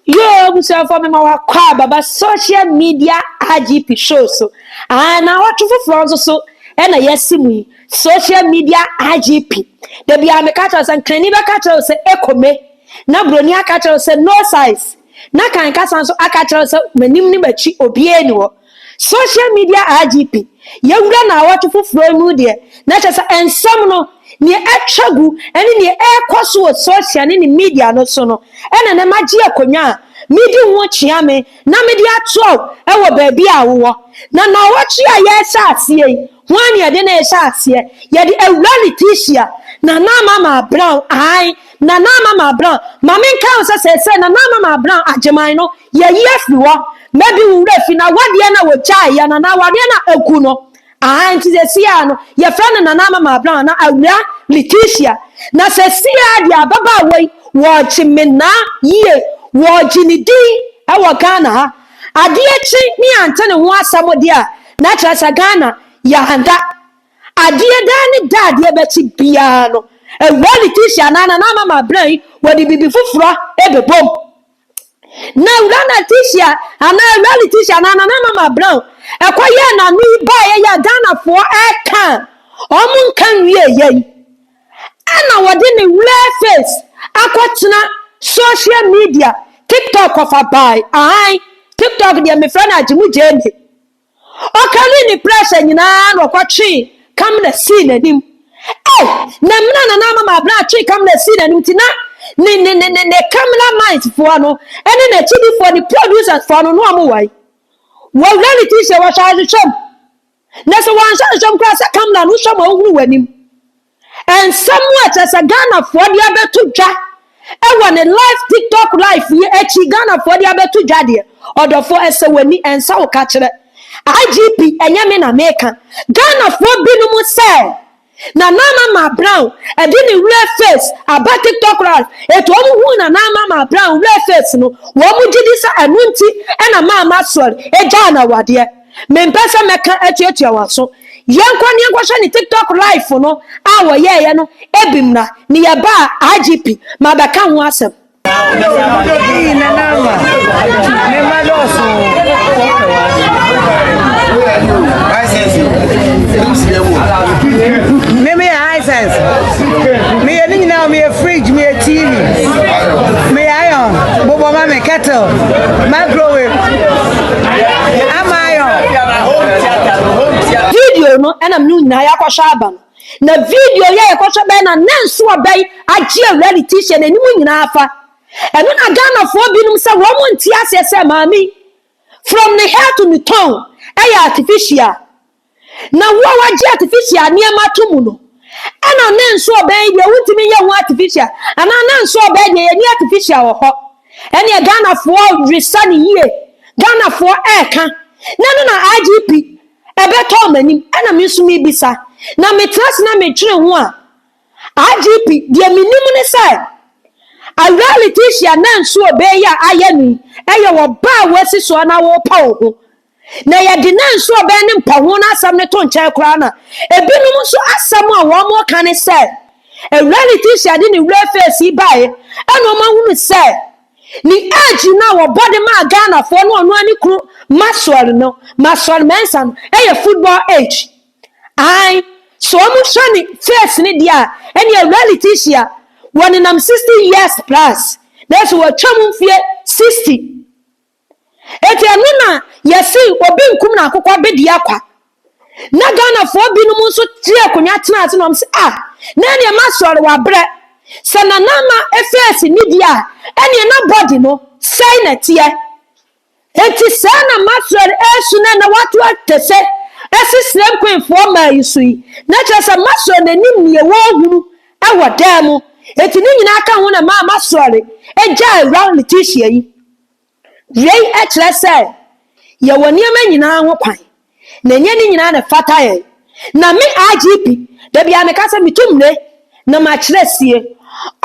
Yoo abusuafoɔ mema wakɔ a baba social media IGP show so aah na awɔtwe foforɔ nso so ɛna yɛsi mu yi social media IGP da biara meka kyerɛ sɛ nkrani bɛka kyerɛ sɛ ekome na broni aka kyerɛ sɛ no size na kan kasa nso aka kyerɛ sɛ m'anim ne m'akyi obiara ni hɔ Social media IGP, Yɛwura nnawɔtwe foforɔ yi mu deɛ, na kyerɛ sɛ nsɛm no, deɛ atwa gu ne deɛ ɛrekɔ so wɔ social ne ne media no so no na na magye akonnwa a medi ho kyea me na mede ato wo wɔ baabi a wowɔ. Na nnawɔtwe a yɛrehyɛ aseɛ yi, hwan na yɛde no rehyɛ aseɛ? Yɛde Awuraa Letitia Nana Amamah Brown, ae, Nana Amamah Brown. Ma menkae wo sɛ seesei Nana Amamah Brown Agyeman no Yɛyi afiri hɔ na bi wo werɛ fi na wadeɛ na wɔgyae yɛ no anaa wadeɛ na aku no aha nti sɛsiaa no yɛfrɛ no Nana Amama Brown anaa Awura Letitia na sɛsiaa deɛ ababaa wei wɔgye menaa yie wɔgye ne din wɔ Ghana ha adeɛ kye ne yɛante ne ho asɛm deɛ a na kyerɛ sɛ Ghana yɛanda adeɛ daa ne da adeɛ bɛkye biara no Awura Letitia anaa Nana Amama Brown yi wɔde bibi foforɔ ɛbɛbom. Na wura Letitia anaa wura Letitia anaa nana mama brown ɛkɔ yɛɛ n'ano yi baeɛ yɛ Ghanafoɔ ɛka wɔn nka nwie yɛ yi ɛna wɔde ne wura face akɔtena social media tiktok ɔfa bae ahan tiktok deɛ mefrɛ no agyemu gyee me Ɔkarii ne prɛsɛ nyinaa na ɔkɔtwee Kamna sii n'anim. E Na mena nana ama ma abena twee Kamna sii n'anim nti na ne ne ne ne ne Kamna mines foɔ no ne n'akyidifoɔ ne producers foɔ no na wɔn wae. Wɔwura ne ti sɛ wɔhyɛ ahwehwɛ mu. Na sɛ wɔanhyɛ ahwehwɛ mu koraa sɛ Kamna no hwɛ ma ɔhunu w'anim. Nsɛm a kyerɛ sɛ Ghanafoɔ de abɛto dwa wɔ ne live TikTok live yi akyi Ghanafoɔ de abɛto dwa deɛ, ɔdɔfoɔ ɛsɛ w'ani ɛnsa wo ka kyerɛ IGP ɛnyɛ me na meka. Ghanafoɔ binom sɛ Nana Ama Maa Brown ɛde ne werɛ face aba TikTok live, ɛti wɔn huu Nana Ama Maa Brown werɛ face no, wɔn gyedi sɛ ɛno nti ɛna Maa Maxwell ɛgyaa no awadeɛ. Mempɛ sɛ mɛka atuatua wɔn aso. Yɛnkɔ ne yɛnkɔhwɛ ne TikTok live no a wɔyɛeɛ no bi mmra. Meyɛ ba a, IGP, mabɛka ho asɛm. Eii nana ama me mma dɔɔso me meyɛ hisense meyɛ ne nyinaa meyɛ fridge meyɛ tv meyɛ iron bobɔ ma me kettle microwave video no ɛna mene nyinaa yɛakɔhwɛ aba no na video yɛ yɛkɔhwɛ bɛn na na nso ɔbɛn agye awura ne tihyɛ n'anim nyinaa fa ɛno na ghanafoɔ binom sɛ wɔn mo nte aseɛ sɛ maame from ne hair to ne tone ɛyɛ artificial Na wo a wagye artificial nneɛma to mu no, ɛna ne nso ɔbɛn yi deɛ wontumi nyɛ ho artificial anaa ne nso ɔbɛn deɛ yɛni artificial wɔ hɔ ɛneɛ Ghanafoɔ resa ne yie Ghanafoɔ ɛɛka na no na IGP ɛbɛtɔ ɔmo anim ɛna me nso mebisa na metena ase na metwere ho a IGP deɛ menim ne sɛ awura Letitia na nso ɔbɛn yi a ayɛ no yi ɛyɛ wɔ baa wɔasi soɔ na wɔpa wo ho na yɛde nanso ɔbɛn ne mpaho no asɛm no to nkyɛn koraa na ebinom nso asɛm a wɔka ne sɛ awura Leticia de ne wura feesi bae ɛna wɔn ahunu sɛ ne age no a wɔbɔ de maa Ghanafoɔ no ɔno ne kunu Maxwell no Maxwell Mensah no ɛyɛ football age ae so wɔn hwɛ ne face no deɛ a ɛne awura Leticia wɔnenam 60 years plus nanso wɔatwam mfie 60 Enti ɛno na yɛse obi nkum na akokɔ bɛdi akwa. Na Ghanafoɔ binom nso gye akonnwa tena ase na wɔn se ah na ɛneɛ masɔre wabrɛ. Sɛ Nana Ama face ni deɛ a ɛneɛ na body no sɛe na ɛteɛ. Enti saa na masɔre ɛresu na ɛnɛ wato akese asi Srem Queenfoɔ mmaa yi so yi. Na kyerɛ sɛ masɔre na ɛnim neɛ wɔrehunu ɛwɔ dan mu. Enti ne nyinaa ka ho na ɛmaa masɔre gyaa awura Leticia yi. Wei kyerɛ sɛ yɛwɔ nneɛma nyinaa ho kwan, na ɛnyɛ ne nyinaa na ɛfata yɛn. Na me RGB, da biara meka sɛ metu mmire na makyerɛ sie.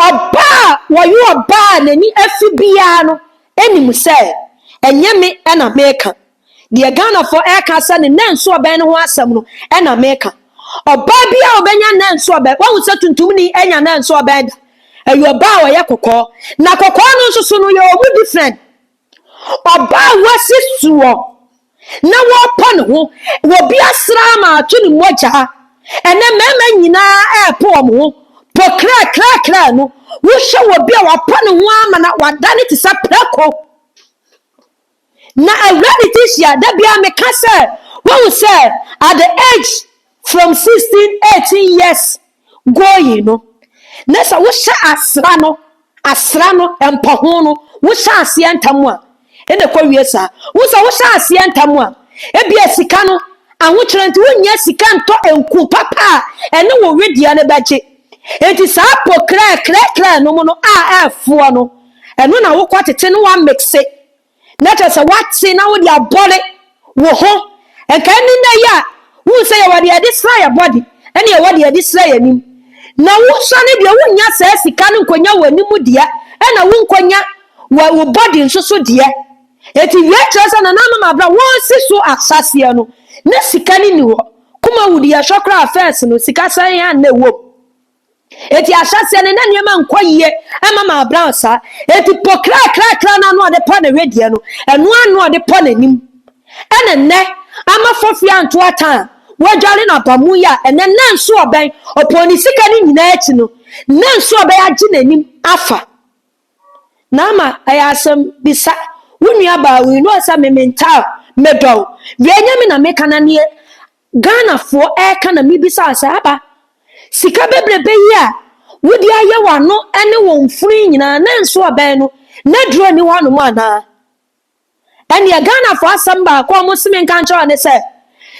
Ɔbaa a wɔyɛ ɔbaa a n'ani afi biara no nim sɛ ɛnyɛ me na meka. Deɛ Ghanafoɔ ɛreka sɛ ne nan nso ɔbɛn no ho asɛm no ɛna meka. Ɔbaa bi a ɔbɛnya nan nso ɔbɛn, wahu sɛ tuntumni ɛnya nan nso ɔbɛn da. Ɛyɛ ɔbaa a ɔyɛ kɔkɔɔ. Na kɔkɔɔ no nso so no yɛ ɔmu different. Ɔbaa a wasi soɔ na wɔpɔ ne ho, wɔ bi asraa ma atwe ne mogyaa. Ɛnɛ mmarima nyinaa ɛɛpo wɔn ho, po kraa kraa kraa no, wohwɛ wɔ bi a wapɔ ne ho ama na wadane te sɛ prako. Na awura ne ti hyia da biara meka sɛ wahu sɛ at the age from sixteen eighteen years going no na sɛ wohyɛ asra no asra no mpɔho no wohyɛ aseɛ ntam a ɛna ɛkɔ wie saa wo sɛ wohyɛ aseɛ ntam a ebia sika no ahokyerɛ nti wonnya sika ntɔ nku papa a ɛne wo wedeɛ no bɛgye nti saa po krɛkrɛkrɛ nom no a ɛfoɔ no Ɛno na wokɔ tete no wa mixe na kyerɛ sɛ wate na wode abɔde wo ho. Nka ɛne nnɛ yi a wohu sɛ yɛwɔ deɛ yɛde sra yɛ bɔde ɛne yɛwɔ deɛ yɛde sra yɛ anim. Na wosɔ no deɛ wonnya saa sika no nkɔnya w'anim deɛ ɛna wonkɔnya wo bɔde nso so deɛ. Eti wei kyerɛ sɛ nananom abra wɔresi so asaseɛ no na sika no nni hɔ. Kumawudi yɛhwɛ koraa fɛs no sika sɛn a na ɛwɔ mu. Enti ahyɛseɛ no na nneɛma nkɔ yie ɛma ma Abraham saa. Enti po krakrakra no ano ɔde pɔ ne wedeɛ no, ɛno ara na ɔde pɔ n'anim. Ɛna nnɛ, ama fafiri anto atan a, wadware no aba mu yi a, ɛnɛ nna nso ɔbɛn, ɔpɔɔ ne sika no nyinaa akyi no, nna nso ɔbɛn agye n'anim afa. Naama, ɛyɛ asɛm, bisa wo nuabaa wei na ɔsɛ me mentaa, medɔ wo. Wei nyɛ me na meka na neɛ Ghanafoɔ ɛreka na mebisaa sɛ, Aba, sika bebrebe yi a wode ayɛ w'ano ne wo mfunu yi nyinaa na nso abɛn no n'aduro nni hɔ anom anaa? Ɛnneɛ Ghanafoɔ asɛm baako a wɔse menka nkyerɛ wo ne sɛ,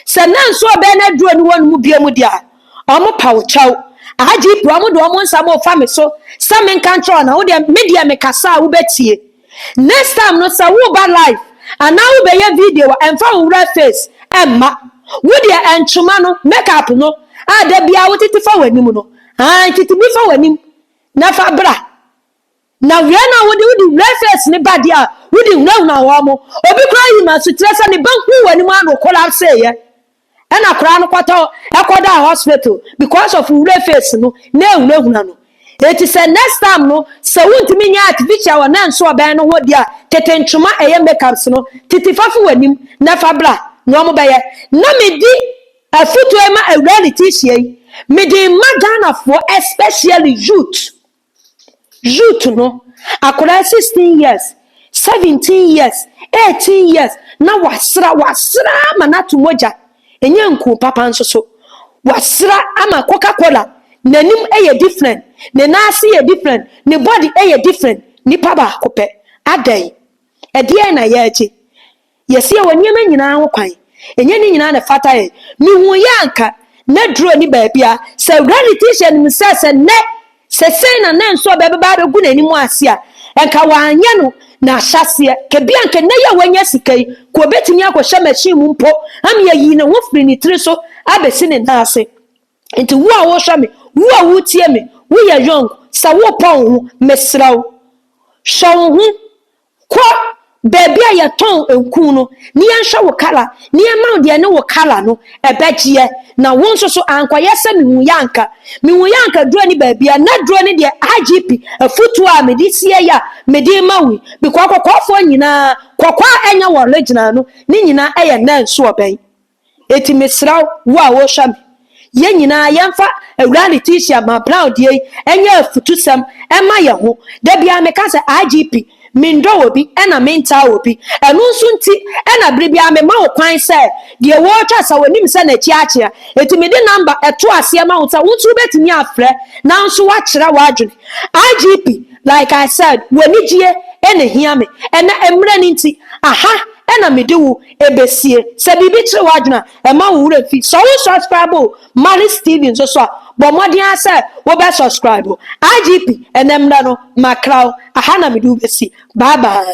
sɛ na nso abɛn no aduro nni hɔ anom biom deɛ a, wɔpa wo kyɛw. IGP, wɔde wɔn nsa ma ɔfa me so sɛ menka nkyerɛ wo na wodeɛ, medeɛ mekasa a wobɛtie. Next time no sɛ woba live anaa wobɛyɛ video a ɛmfa wo werɛ face ɛmma. Wo deɛ ɛntwoma no, make up no a da biara wotete fa w'anim no, ae tete bi fa w'anim na fa bra. Na wei na wode wode werɛ face no ba deɛ a wode hunahuna wɔn. Obi koraa yima so kyerɛ sɛ ne ba huu w'anim a na ɔkɔlapseeɛ. Ɛna akwadaa no kɔtɔ ɛkɔdaa hospital because of wura face no na ehunahuna no. Eti sɛ next time no sɛ wuntumi nyɛ artificial a na nso ɔbɛn no ho de a tete ntwoma ɛyɛ makeups no titi fa fi w'anim na fa bra na ɔmo bɛyɛ. Na me di afutuo yi ma awuraa Letitia yi mede ma Ghanafoɔ especially youth. Youth no, akwadaa sixteen years, seventeen years, eighteen years na wasra wasra ama no ato mogya, ɛnyɛ nku papa nso so. Wasra ama Coca Cola n'anim yɛ different, ne nan ase yɛ different, ne body yɛ different. Nipa baako pɛ, adɛn? Ɛdeɛn na yɛregye? Yɛseɛ wɔ nneɛma nyinaa ho kwan, ɛnyɛ ne nyinaa na ɛfata yɛn. Mehuiɛ a anka na duro nni baabia. Sɛ Rarity hyɛ no mu sɛ sɛ nnɛ sɛ sei na na nsuo bɛbɛba abɛgu n'anim ase a, anka wanyɛ no n'ahyɛaseɛ. Kɛbi anka nnɛ yi a wanya sika yi, anka ɔbɛtumi akɔhyɛ machine mu mpo ama yɛayi ne ho firi ne tiri so abɛsi ne nan ase. Nti wo a wohwɛ me, wo a woretie me, woyɛ young, sɛ worepɔ wo ho, mesrɛ wo, hwɛ wo ho, Kɔ baabi a yɛtɔn nku no na yɛnhwɛ wo kala na yɛmma wo deɛ ɛne wo kala no bɛgyeɛ. Na wo nso so ankɔyɛ sɛ mehuiɛ anka. Mehuiɛ anka duro ne baabiara. Na duro ne deɛ IGP afutuo a mede sie yi a mede rema wo yi, because kɔkɔɔfoɔ nyinaa, kɔkɔɔ a ɛnyɛ wɔn original no, ne nyinaa yɛ nɛnsoɔ bɛn. Enti mesrɛ wo a worehwɛ me, yɛn nyinaa yɛmfa Awuraa Letitia Maa Brown deɛ yi nyɛ afutusɛm mma yɛn ho. Da biara meka sɛ, IGP, mendɔ obi na mentaa obi. Ɛno nso nti na bere biara mema wo kwan sɛ deɛ woretwa sɛ wonim sɛ n'akyi akyea. Enti mede namba to aseɛ ma wo sɛ wo nso wobɛtumi afrɛ na nso woakyerɛ w'adwene. IGP, like I said, w'anigyie na ɛhia me. Ɛnnɛ, mmerɛ no nti, aha na mede wo. ebesie. Sɛ biribi kyere w'adwene a, mma wo werɛ mfi. Sɛ wosɔskraibo Malis TV nso so a, bɔ mmɔden ara sɛ wobɛsɔskraibo IGP. Ɛnnɛ mmerɛ no, makra wo. Aha na mede wo besi. Bye bye.